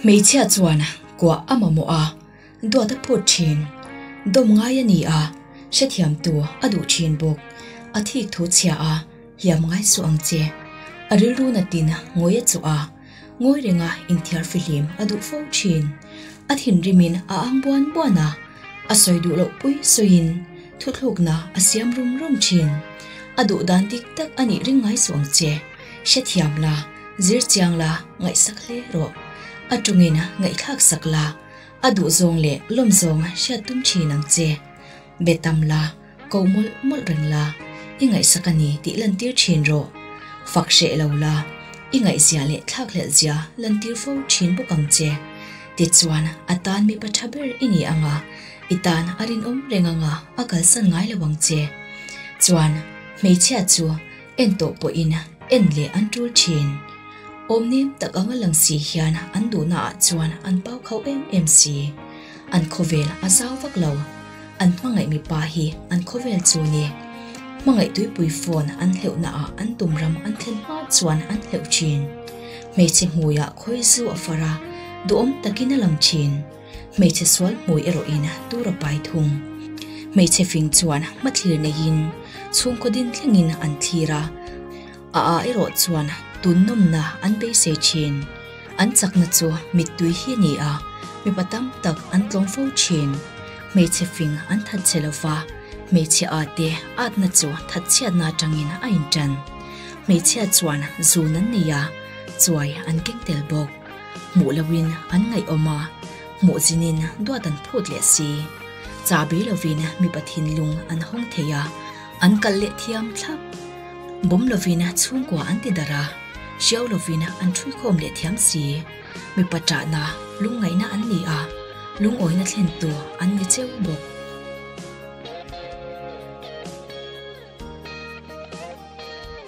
Hmeichhia chuan kuah a mamawh a, duat a phut thin. Dawm ngai a ni a, hrethiamtu a duh thin bawk. A thik thu chhia a, hiam ngai suh ang che. A rilru natin ngawi a chuh a, ngawi renga inthiar fihlim a duh fo thin. A thinrimin a ang buan buan a, a sawi duh loh pui sawiin thuthlukna a siam rum rum thin. A duh dan dik tak a nih ring ngai suh ang che. hrethiam la, zir chiang la, ngaihsak hle rawh, a tungin ngaihthlak sak la, a duh zawng leh lawm zawng hriat tum thin ang che, be tam la, ko mawlh mawlh reng la, i ngaihsak a ni tih lantir thin rawh, fak hreh lo la, i ngaihzia leh thlak hlelhzia lantir fo thin bawk ang che. Tichuan, a tan mipa tha ber i ni ang a, i tan a rinawm reng anga a kalsan ngai lo ang che. Chuan, hmeichhia chu. En tawh pawhin en leh an tul thin. Awmnem tak anga lang si hian an duhna ah chuan an pau kho em em si. An khawvel a zau vak lo. An hmangaih mipa hi an khawvel chu ni. Hmangaih tuipui fawn an hleuhna ah an tum ram an thlen hma chuan an hleuh thin. Hmeichhe hmui ah khawizu a far a, duhawm takin a lang thin. Hmeichhe sual hmui erawh in tur a pai thung. Hmeichhe fing chuan hmathlir neiin chhungkaw din thlengin an thlir a, a ah erawh chuan tun nawmna an beisei thin. An chakna chu mittui hi a ni a, mipa tam tak an tlawm fo thin. Hmeichhe fing an that che lo va, hmeichhe ah te atna chu thatchhiatna atangin a intan. Hmeichhia chuan zun an nei a, chuai an keng tel bawk. Hmuh loin an ngaihawm a, hmuh zinin duat an phut leh si. Chahbi lovin mipa thinlung an hawng thei a, an kalh leh thiam thlap. Bawm lovin chhungkua an ti darh a, hriau lovin an ṭhuikhawm leh thiam si. Mipa ṭahna, lungngaihna an ni a, lungawina thlentu an ni cheu bawk.